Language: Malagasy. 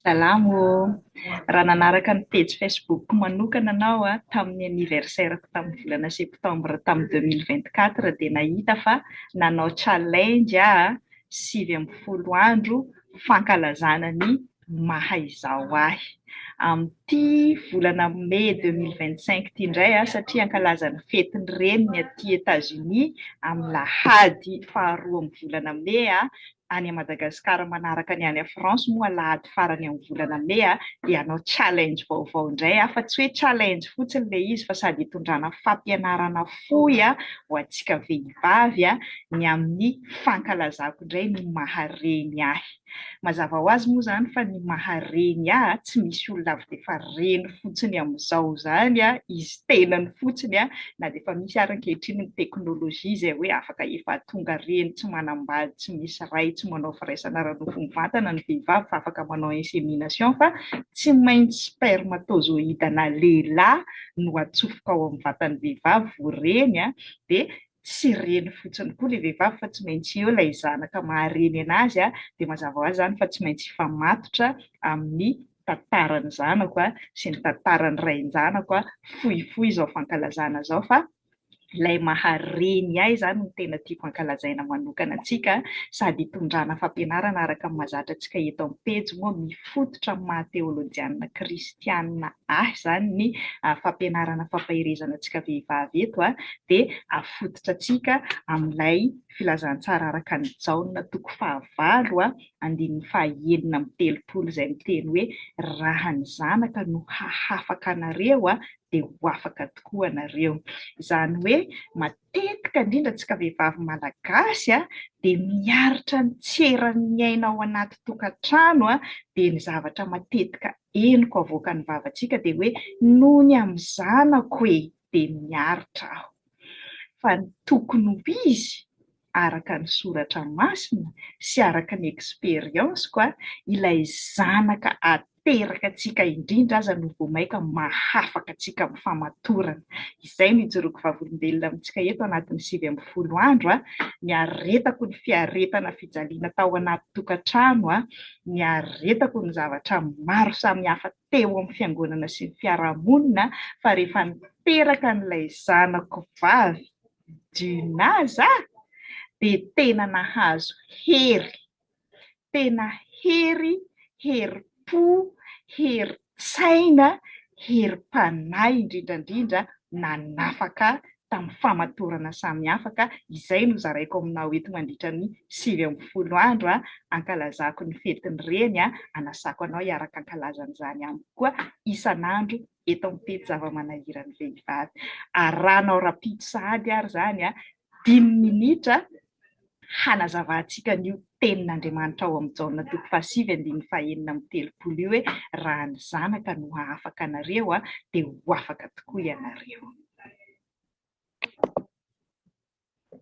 Salamo ô! Raha nanaraka ny pejy Facebook-ko manokana anao tamin'ny anniversaire-ko tamin'ny volana septembre tamin'ny deux mille vingt quatre dia nahita fa nanao challenge aho sivy ambin'ny folo andro fankalazana ny maha izaho ahy. Amin'ity volana mey deux mille vingt cinq ity indray aho satria hankalaza ny fety ny reniny aty Etats Unis amin'ny lahady faharoa amin'ny volana mey aho any Madagascar manaraka ny any France moa alahady farany amin'ny volana mey dia hanao challenge vaovao indray aho fa tsy hoe challenge fotsiny ilay izy fa sady hitondrana fampianarana fohy ho antsika vehivavy ny amin'ny fankalazako indray ny maha reny ahy mazava ho azy moa izany fa ny maha reny ahy tsy misy olona avy dia efa reny fotsiny amin'izao izany izy tenany fotsiny na dia efa misy ary ankehitriny ny teknolojia izay hoe afaka efa tonga reny tsy manambady tsy misy ray tsy manao firaisana ara-nofo mivantana ny vehivavy fa afaka manao insémination fa tsy maintsy spermatozoïde ana lehilahy no atsofoka ao amin'ny vatan'ny vehivavy vao reny dia tsy reny fotsiny koa ilay vehivavy fa tsy maintsy eo ilay zanaka maha reny anazy dia mazava ho azy izany fa tsy maintsy hifamatotra amin'ny tantaran'ny zanako a, sy ny tantaran'ny rain-janako a, fohifohy izao fankalazana izao fa ilay maha reny ahy izany no tena tiako hankalazaina manokana antsika sady hitondrana fampianarana araka ny mahazatra antsika eto amin'ny pejy moa mifototra amin'ny maha teolojianina kristianina ahy izany ny fampianarana fampaherezana antsika vehivavy eto a dia afototra antsika amin'ilay filazantsara araka ny Jaona toko fahavalo a andininy faha enina amby telopolo izay miteny hoe raha ny zanaka no hahafaka anareo a dia ho afaka tokoa anareo izany hoe matetika indrindra antsika vehivavy malagasy a dia miaritra ny tsy eran'ny aina ao anaty tokantrano a dia ny zavatra matetika henoko avoakan'ny vavantsika dia hoe noho ny amin'ny zanako e dia miaritra aho fa ny tokony ho izy araka ny soratra masina sy araka ny experience-ko a, ilay zanaka ateraka antsika indrindra aza no vao maika mahafaka antsika amin'ny famatorana. Izay no ijoroako vavolombelona amintsika eto anatin'ny sivy ambin'ny folo andro a, niaretako ny fiaretana fijaliana tao anaty tokantrano a, niaretako ny zavatra maro samihafa teo amin'ny fiangonana sy ny fiarahamonina fa rehefa niteraka an'ilay zanako vavy, Djuna za dia tena nahazo hery, tena hery, herim-po, herin-tsaina, herim-panahy indrindra indrindra nanafaka tamin'ny famatorana samihafa ka izay no zaraiko aminao eto mandritra ny sivy ambin'ny folo andro hankalazako ny fetin'ny reny, hanasako anao hiaraka hankalazana izany amiko koa isan'andro eto amin'ny pejy zava-manahiran'ny vehivavy. Arahanao rahampitso sahady ary izany, dimy minitra, hanazavantsika an'io Tenin'Andriamanitra ao amin'ny Jaona toko fahasivy andininy fahenina amby telopolo io hoe, Raha ny Zanaka no hahafaka anareo, dia ho afaka tokoa ianareo.